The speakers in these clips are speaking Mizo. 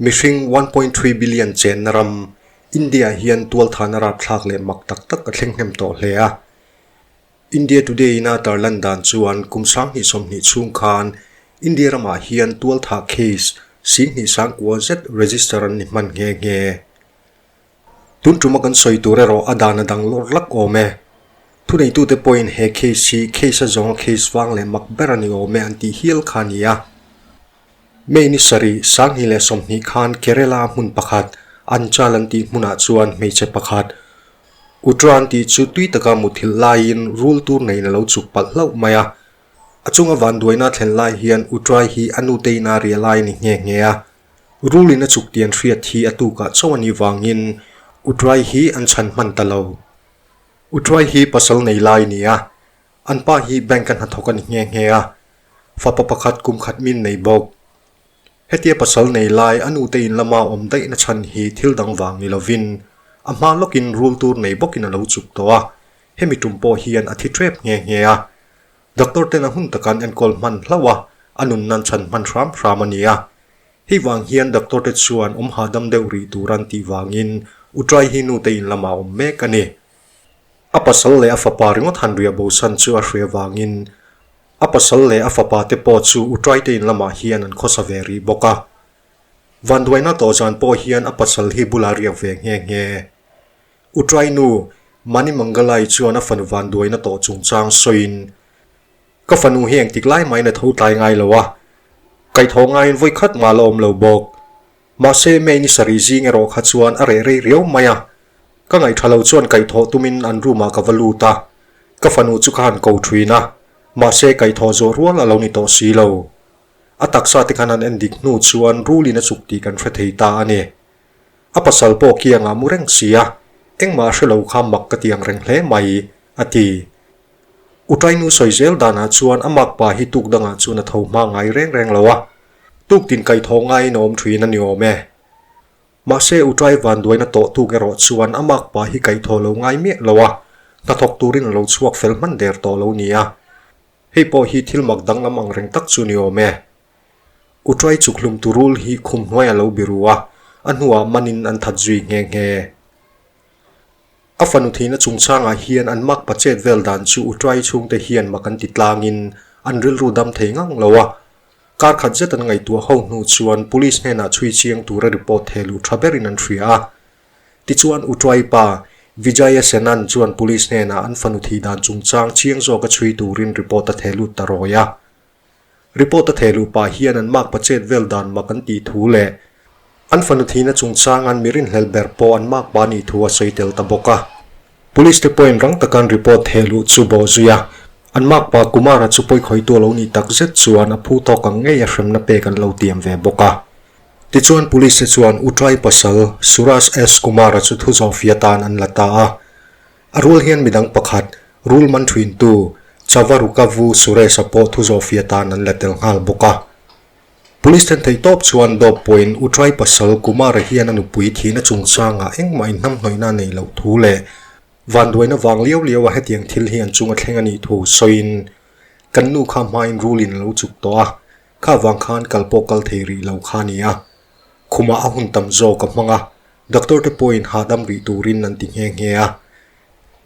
Mihring one point three billion chenna ram Indiaah hian tualthana rapthlak leh mak tak tak a thlengnem tawh hle a. India Today ina tarlan dan chuan kum sang hnih sawmhnih chhung khan India ramah hian tualtha case sing hnih sang kual zet register an ni hman nghe nghe. Tun tuma kan sawi tur erawh a dan a dang lawr lak awm e. Thuneitute pawhin he case hi case-a zawnga case vang leh mak ber a ni awm e an tih hial kha a ni a. May ni sarih sanghnih leh sawmhnih khan Kerala-a hmun pakhat, Anchal an tih hmunah chuan hmeichhe pakhat Utra an tih chu tui taka muthilh laiin rul tur neina lo chuk palh hlauh mai a. A chunga vanduaina thlen lai hian Utra-i hi a nute ina rial ai a ni nghe nghe a. Rule in a chuk ti an hriat hi a tukah chauh a nih vangin Uttrai hi an chhan hman ta lo. Uttrai hi pasal nei lai ni a, an pa hi bank a hnathawk a ni nghe nghe a, fapa pakhat kum khat min nei bawk. Hetia pasal nei lai a nute in lama awm daih na chhan hi thil dang vang ni lovin a hma lawkin rule tur nei bawkin a lo chuk tawh a, hemi tum pawh hian a thi tep nghe nghe a. Doctor ten a hun taka an enkawl hman hlauh a, a nunna an chhan hman hram hram a nia. Hei vang hian doctor te chuan awm hahdam deuh rih tur an tih vangin U Trai hi nu teiin lamah a awm mek a ni. A pasal leh a fapa ringawt han riah bo chhan chu a hria vangin a pasal leh a fapa te pawh chu U Trai teiin lamah hian an khawsa ve rih bawk a. Vanduaina tawh zan pawh hian a pasal hi bula riak ve nghe nghe. U Trainu Mani Mangalai chuan a fanu vanduaina tawh chungchang sawiin, Ka fanu hi engtik lai mahin a tho tlai ngai lo a, kaithawh ngaiin vawi khat nghal a awm lo bawk. Mahse, May ni sarih zing erawh kha chuan a reh rei riau mai a, ka ngaih tha lo chuan kaithawh tumin an room ah ka va lut a, ka fanu chu ka han ko thin a, mahse kaithawh zawh rual a lo ni tawh si lo. A taksa te khan han en dik hnu chuan rulin a chuk tih kan hre thei ta a ni. A pasal pawh kiangah mu reng si a, engmah hre lo kha mak ka ti ang reng hle mai, a ti. U Tainu sawi zel danah chuan a mak pa hi tuk dangah chuan a tho hma ngai reng reng lo a, tuk tin kaithaw ngaiin a awm thin a ni awm e. Mahse U Tai vanduaina tawh tuk erawh chuan a mak pa hi kaithaw lo ngai miah lo a, hnathawk turin a lo chhuak fel hman der tawh lo nia. Hei pawh hi thil mak danglam ang reng tak chu ni awm e. U Trai chuk hlum tu rul hi khum hnuaia lo be ru a, a hnuah manin an that zui nghe nghe. A fanu thihna chungchangah hian an mak pachet vel dan chu U Trai chhungte hian mak an ti tlangin an rilru dam thei ngang lo a. Kar khat zet an ngaihtuah ho hnu chuan Police hnenah chhui chiang tura report theh luh tha berin an hria a. Tichuan U Trai pa, Vijaya Senan chuan Police hnenah an fanu thih dan chungchang chiang zawka chhui turin report a theh lut ta rawi a. Report-a thel upa hian an makpa chet vel dan mak an tih thu leh an fanu thihna chungchanga an mirinhlel ber pawh an makpa a nih thu a sawi tel ta bawk a. Police-te pawhin rang taka an report thel uh chu bo zui a, an makpa Kumar-a chu pawikhawitu a lo ni tak zet chuan a phu thawk ang ngei a hremna pek an lo tiam ve bawk a. Tichuan, Police-te chuan utai pasal Suraj S. Kumar-a chu thu zawhfia tan an la ta a. A rule hian midang pakhat, rule man thuintu Chava Ruka Vu Suresha pawh thu zawhfia tan an la tel nghal bawk a. Police then theih tawp chuan dawp puain Uttrai Pasal Kumara hian a nupui thihna chungchangah engmah inhnamhnawihna neih loh thu leh vanduaina vang lio lio a hetiang thil hi an chunga thleng a nih thu sawiin kan nu kha hmain rule in a lo chuk tawh a, kha vang khan kal pawh kal thei rih lo kha a ni a. Khumah a hun tam zawk a hmang a, doctor te pawhin hahdam rih turin an ti nghe nghe a.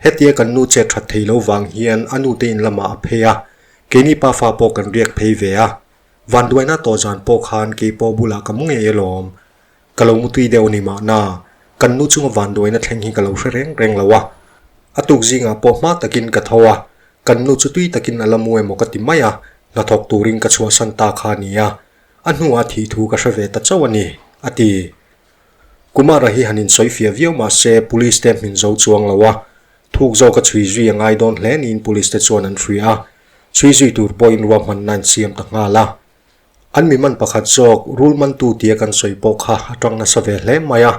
Hetia kan nu chet that thei lo vang hian a nu te in lamah a phei a, keini pa fa pawh kan riak phei ve a. Vanduaina tawh zan pawh khan kei pawh bulah ka mu ngei alawm. Ka lo mu tui deuh a ni mahna, kan nu chunga vanduaina thleng hi ka lo hre reng reng lo a. A tuk zingah pawh hma takin ka tho a, kan nu chu tui takin a la mu emaw ka ti mai a, hnathawk turin ka chhuahsan ta kha a ni a, A hnuah thih thu ka hre ve ta chauh a ni, a ti. Kumara hi han insawi fiah viau mahse Police te hmin zo chuang lo a, thuk zawk a chhui zui a ngai dawn hle niin Police te chuan an hria a, chhui zui tur pawhin ruahmanna an siam ta nghal a. An miman pakhat zawk rul mantu tia kan sawi pawh kha a ṭang nasa ve hle mai a,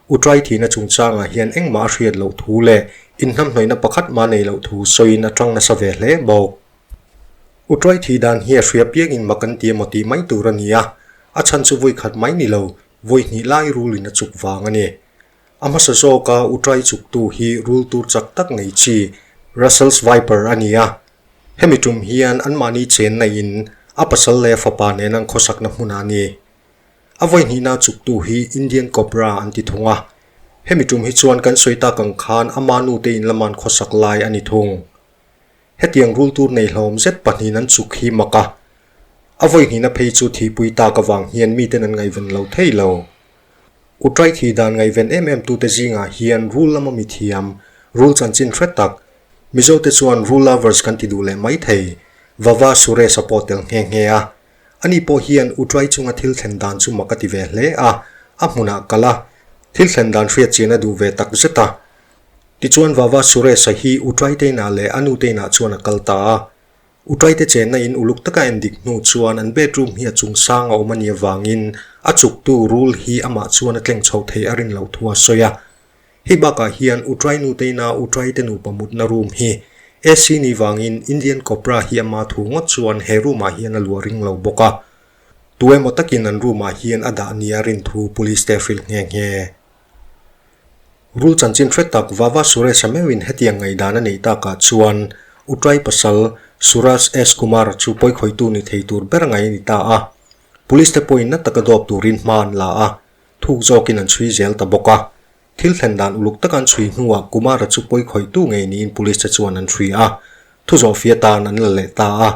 u ṭai thihna chungchangah hian engmah a hriat loh thu leh inhnamhnawihna pakhat mah nei loh thu sawiin a ṭang nasa ve hle bawk. U Tuai Thi Dan hi a hria piangin mak an ti emaw tih mai tur a ni a, a chhan chu vawi khat mai ni lo, vawi hnih lai rul in a chuk vang a ni. A hmasa zawk a U Tuai chuk tu hi rul tur chak tak ngei chi Russell's Viper a ni a. Hemi tum hian anmahni chenna in a pasal leh a fapa nen an khawsakna hmun a ni. A vawi hnihna chuk tu hi Indian Cobra an ti thung a, hemi tum hi chuan kan sawi tak ang khan a manu te in lama an khawsak lai a ni thung. Hetiang rul tur nei hlawm zet pahnihin an chuk hi mak a, a vawihnihna phei chu thihpui tak avang hian miten an ngaihven lo thei lo. Utai thih dan ngaihven em em tute zingah hian rul lama mithiam, rul chanchin hre tak, Mizo te chuan rul lovers kan ti duh leh mai thei, Vava Suresh a pawh tel nghe nghe a. Ani pawh hian utai chunga thil thlen dan chu mak a ti ve hle a, a hmunah kal a, thil thlen dan hriat chin a duh ve tak zet a. Tichuan vava Suresh-a hi U Traite inah leh a nute inah chuan a kal ta a. U Traite chenna in uluk taka en dik hnu chuan an bedroom hi a chung sang a awm a ni avangin a chuktu rul hi amah chuan a tleng chho thei a rin lo thu a sawi a. Hei bakah hian U Trai nute ina U Traite nupa mutna room hi AC ni vangin Indian Cobra hi a ma thu ngawt chuan he room-ah hian a luah ring lo bawk a. Tu emaw takin an room-ah hian a dah nia rin thu Police-te a hrilh nghe nghe. Rul chanchin hre tak Vava Suresh-a meuhin hetiang ngaihdan a neih takah chuan utai pasal Suraj S. Kumar chu pawikhawitu ni thei tur ber ngai a ni ta a, police te pawhin na taka dawp turin hma an la a, thuk zawkin an chhui zel ta bawk a. Thil thlen dan uluk taka an chhui hnuah Kumar-a chu pawikhawitu ngei niin police te chuan an hria a, thu zawhfia tan an la leh ta a,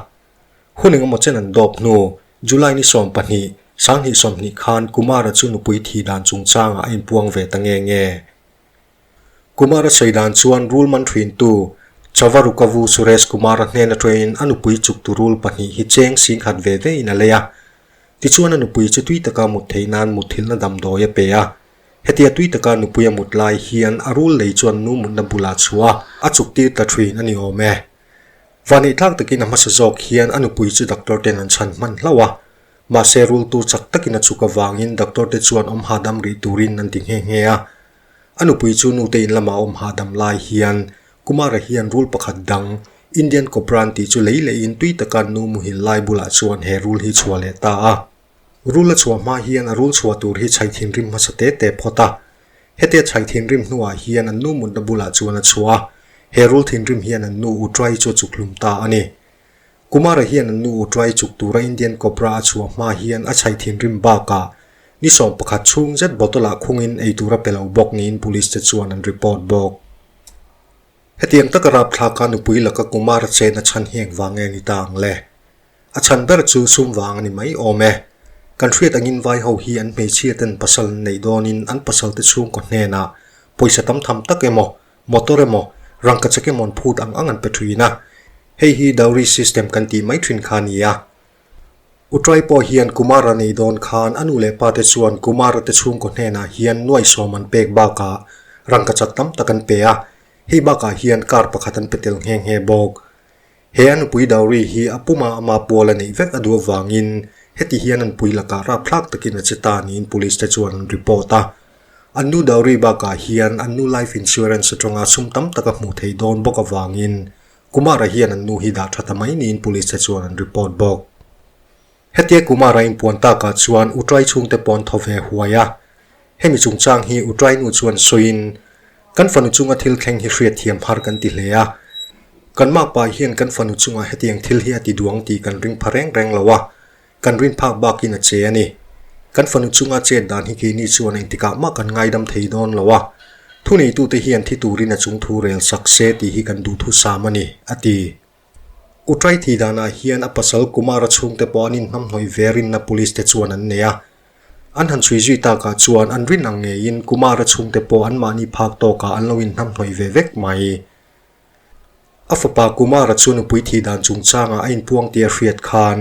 Hun engemaw chen an dawp hnu, July ni sawm pahnih, sanghnih sawmhnih khan Kumara chu nupui thi dan chungchangah a inpuang ve ta nge nge. Kumara sawi dan chuan Rul man thrintu Chavarukavu Suresh Kumara hnen atangin a nupui chuk tu rul pahnih hi cheng sin khat ve ve in a lei a. Tichuan a nupui chu tui taka mut theih nan mutthilna damdawi a pe a. Hetia tui taka nupui a mut lai hian a rul lei chuan nu mutna bulah chhuah a chuktir ta thin a ni awm e. Vani tlak takin a hmasa zawk hian a nupui chu doctor ten an chhan hman hlauh a. Mahse rultu chak takin a chhuk avangin doctor te chuan awm hahdam rih turin an ti nghe nghe a. A nupui chu nute in lamah a awm hahdam lai hian Kumara hian rul pakhat dang, Indian Cobra an tih chu lei leiin tui taka nu muhil lai bulah chuan he rul hi chhuah leh ta a. Rula chhuah hma hian a rul chhuah tur hi chhai thinrim hmasa te te phawt a. Hete chhai thinrim hnuah hian an nu mutna bulah chuan a chhuah a, he rul thinrim hian an nu U Trai chu a chuk hlum ta a ni. Kumara hian an nu U Trai chuk tura Indian Cobra a chhuah hma hian a chhai thinrim bakah ni sawm pakhat chhung zet bottle ah khungin eitur a pe lo bawk niin police te chuan an report bawk. Hetiang taka rapthlaka nupui laka Kumara chen a chhan heng vange a ni ta ang le. A chhan ber chu sum vang a ni mai awm e. Kan hriat angin vai ho hi an hmeichhia ten pasal neih dawnin an pasal te chhungkaw hnenah pawisa tam tham tak emaw, motor emaw, rangkachek emaw an phut ang ang an pe thin a. Hei hi dowry system kan tih mai thin kha a ni a. U Trai pawh hian Kumara nei dawn khan a nu leh pa te chuan Kumara te chhungkaw hnenah hian nuaisawm an pek bakah rangkachak tam tak an pe a. Hei bakah hian car pakhat an pe tel nghe nghe bawk. He a nupui dowry hi a puma ama pual a neih vek a duh avangin heti hian a nupui lakah rapthlak takin a che ta niin police te chuan an report a. An nu dowry bakah hian an nu life insurance atanga sum tam tak a hmuh theih dawn bawk avangin Kumar-a hian an nu hi dah tha ta mai niin police te chuan an report bawk. Hetia Kumara inpuan takah chuan U Trai chhungte pawh an thaw ve huai a. Hemi chungchang hi U Trai nu chuan sawiin, Kan fanu chunga thil thleng hi hriat thiam har kan ti hle a. Kan mahpai hian kan fanu chungah hetiang thil hi a ti duang tih kan ring pha reng reng lo a, kan rin phak bakin a che a ni. Kan fanu chunga chet dan hi keini chuan engti kah mah kan ngaidam thei dawn lo a. Thuneitute hian thi turin a chungthu rel sak se tih hi kan duh thu sam a ni, a ti. U Trai Thi Dana hian a pasal Kumara chhungte pawh an inhnamhnawi ve rinna Police-te chuan an nei a. An han chhui zui takah chuan an rin ang ngeiin Kumara chhungte pawh anmahni phak tawkah an lo inhnamhnawi ve vek mai. A fapa Kumara chu nupui thi dan chungchangah a inpuang tia hriat khan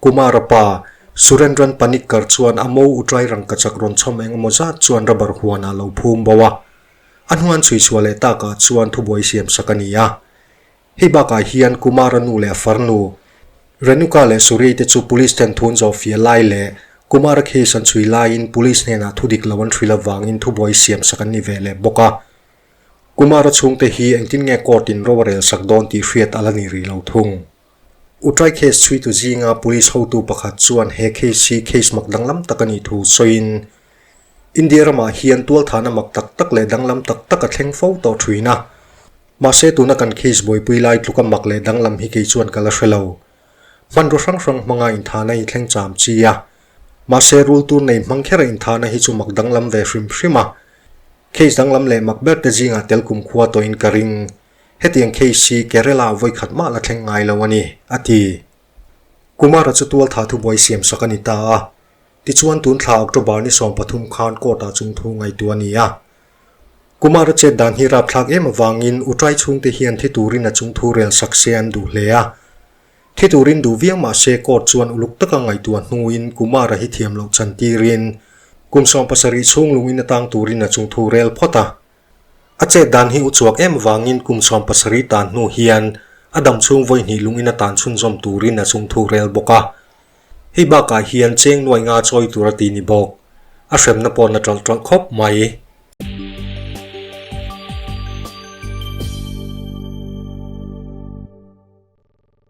Kumara pa Surendran Panikkar chuan a mo U Trai rangkachak rawn chhawm engemaw zat chuan rubber huanah lo phum bo a. A hnuan chhuichhuah leh takah chuan thubuai siam sak a ni a. Hei bakah hian Kumara nu leh a far nu Renuka leh Surey te chu Police ten thun zawh fiah lai leh Kumara case an chhui laiin Police hnenah thu dik lo an hrilh avangin thubuai siamsak an ni ve leh bawk a. Kumara chhungte hi engtin nge Court in ro a rel sak dawn tih hriat a la ni rih lo thung. Utai case chhuitu zinga Police hotu pakhat chuan he case hi case mak danglam tak a nih thu sawiin, India ramah hian tualthahna mak tak tak leh danglam tak taka thleng fo tawh thuin a. Mahse tuna kan case buaipui lai tluka mak leh danglam hi kei chuan ka la hre lo. Hmanraw hrang hrang hmanga inthahna hi thleng cham chi a. Mahse rule tur nei hmang khera inthahna hi chu mak danglam ve hrim hrim a. Case danglam leh mak berte zingah tel kum khua tawhin ka ring. Hetiang case hi Kerela a vawi khat mah la thleng ngai lo a ni, a ti. Kumara chu tualtha thubuai siam sak a ni ta a. Tichuan tun thla October ni sawm pathum khan court ah chung thu ngaihtuah a ni a. Kumara chet dan hi rapthlak em avangin utai chhungte hian thi turin a chung thu rel sak se an duh hle a. Thi turin duh viau mah se court chuan uluk taka ngaihtuah hnuin Kumara hi thiam loh chan tirin kum sawm pasarih chhung lungin atang turin a chung thu rel phawt a. A chet dan hi uchuak em avangin kum sawm pasarih tan hnu hian a dam chhung vawihnih lungin a tan chhunzawm turin a chung thu rel bawk a. Hei bakah hian cheng nuai nga chawi tur a ti ni bawk. A hremna paw'n a ṭalh ṭalh khawp mai.